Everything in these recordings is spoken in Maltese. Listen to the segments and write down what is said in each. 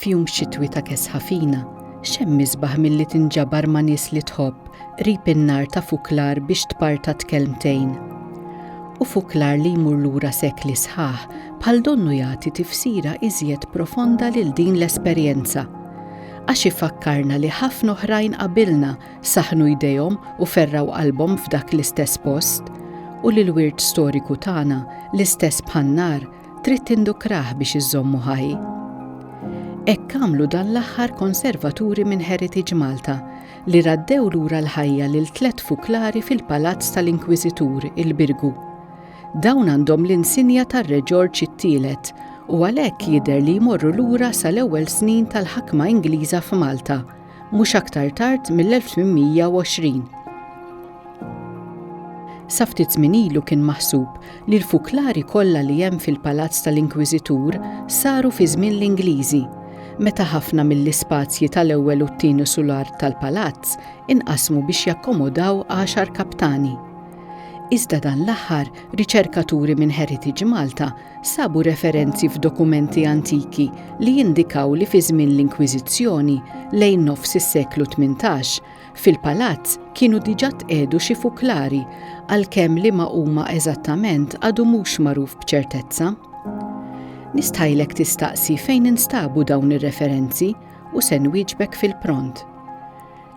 F'jum xitwi ta' kes ħafina, x'hemm isbaħ milli tinġabar ma' nies li tħobb qrib in-nar ta' fuklar biex tpartat kelmtejn. U fuklar li jmur lura sekli sħaħ bħal donnu jagħti tifsira iżjed profonda lil din l-esperjenza. Għax ifakkarna li ħafna oħrajn qabilna saħnu jdejhom u ferraw qalbhom f'dak l-istess post, u li l-wirt storiku tagħna l-istess bħan-nar trid tindukrah biex iżommu ħaj. Hekk għamlu dan l-aħħar konservaturi minn Heritage Malta li raddew lura l-ħajja lil tlet fuklari fil-palazz tal-Inkwiżitur il-Birgu. Dawn għandhom l-insinja tar-reġorġ it-tielet u għalhekk jidher li jmorru lura sal-ewwel snin tal-ħakma Ingliża f'Malta mhux aktar tard mill-1820. Sa ftit żmien ilu kien maħsub li l-fuklari kollha li hemm fil-Palazz tal-Inkwiżitur saru fi żmien l-Ingliżi, meta ħafna mill-ispazji tal-ewwel u t-tieni sular tal-palazz inqasmu biex jakkomodaw għaxar kaptani. Iżda dan l-aħħar riċerkaturi minn Heritage Malta Sabu referenzi f'dokumenti antiki li jindikaw li fi żmien l-Inkwiżizzjoni, lejn nofs is-seklu tmintax, fil-palazz kienu diġà tqiegħdu xi fuklari, għalkemm liema huma eżattament għadu mhux magħruf b'ċertezza. Nistħajlek tistaqsi fejn instabu dawn ir-referenzi u se nwieġbek fil-pront.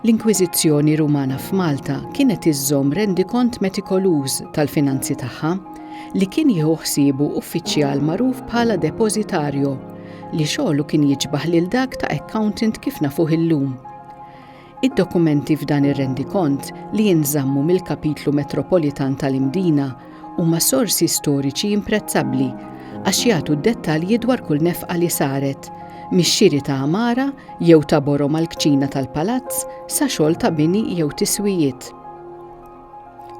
L-Inkwiżizzjoni Rumana f'Malta kienet iżżomm rendikont metikoluż tal-finanzi tagħha, li kien jieħu ħsiebu uffiċjal magħruf bħala depositario, li xogħlu kien jiġbaħ lil dak ta' accountant kif nafuh illum. Id-dokumenti f'dan ir-rendikont, li jinżammu mill-Kapitlu Metropolitan tal-Imdina, huma sorsi storiċi imprezzabbli għax jagħtu d-dettalji dwar kull nefqa li saret, mix-xiri ta' għamara jew ta' borow mal-kċina tal-palazz sa xogħol ta' bini jew tiswijiet.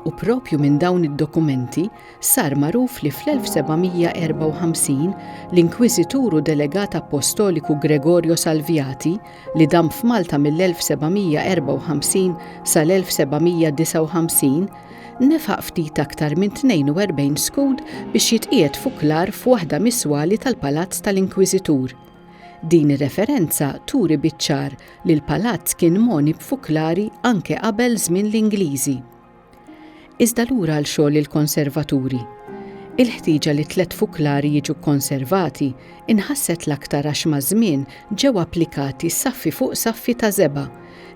U propju minn dawn id-dokumenti sar magħruf li fl-1754 l-Inkwiżitur u Delegat Appostoliku Gregorio Salviati, li dam f'Malta mill-1754 sal-1759, nefaq ftit aktar minn 42 skud biex jitqiegħed fuklar f'waħda mis-swali tal-Palazz tal-Inkwiżitur. Din ir-referenza turi biċ-ċar li l-palazz kien moni b'fuklari anke qabel żmien l-Ingliżi. Iżda lura għal xogħol il-konservaturi. Il-ħtieġa li tliet fuklari jiġu kkonservati inħasset l-aktar għax maż-żmien ġew applikati saffi fuq saffi ta' żebgħa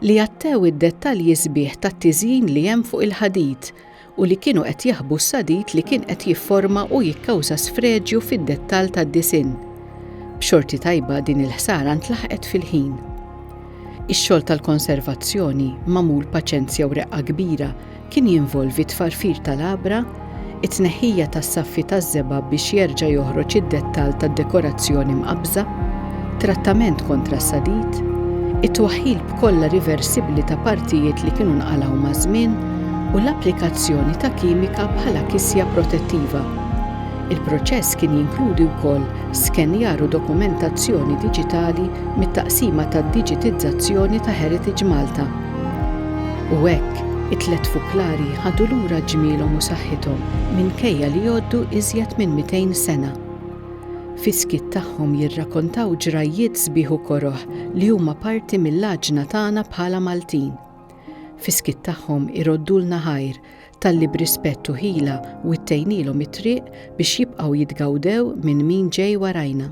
li jgħattew id-dettalji sbieħ tat-tiżjin li hemm fuq il-ħadid u li kienu qed jaħbu s-sadid li kien qed jifforma u jikkawża sfreġju fid-dettall tad-disinn. B'xorti tajba din il-ħsara ntlaħqet fil-ħin. Ix-xogħol tal-konservazzjoni, magħmul paċenzja u reqqa kbira, Kien jinvolvi t-tfarfir tal-għabra, it-tneħħija tas-saffi taż-żebgħa biex jerġa' joħroġ id-dettall tad-dekorazzjoni mqabbża, trattament kontra s-sadid, it-twaħħil b'kolla riversibbli ta' partijiet li kienu nqalgħu maż-żmien u l-applikazzjoni ta' kimika bħala kisja protettiva. Il-proċess kien jinkludi wkoll skenjar u dokumentazzjoni diġitali mit-Taqsima tad-Diġitizzazzjoni ta' Heritage Malta. U hekk, it-tliet fuklari ħadu lura ġmielhom u saħħithom minkejja li jgħoddu iżjed minn mitejn sena. Fis-skiet tagħhom jirrakontaw ġrajjiet sbieħ u koroh li huma parti mill-għaġna tagħna bħala Maltin. Fis-skiet tagħhom iroddulna ħajr talli b'rispett u ħila wittejnielhom it-triq biex jibqgħu jitgawdew minn min ġej warajna.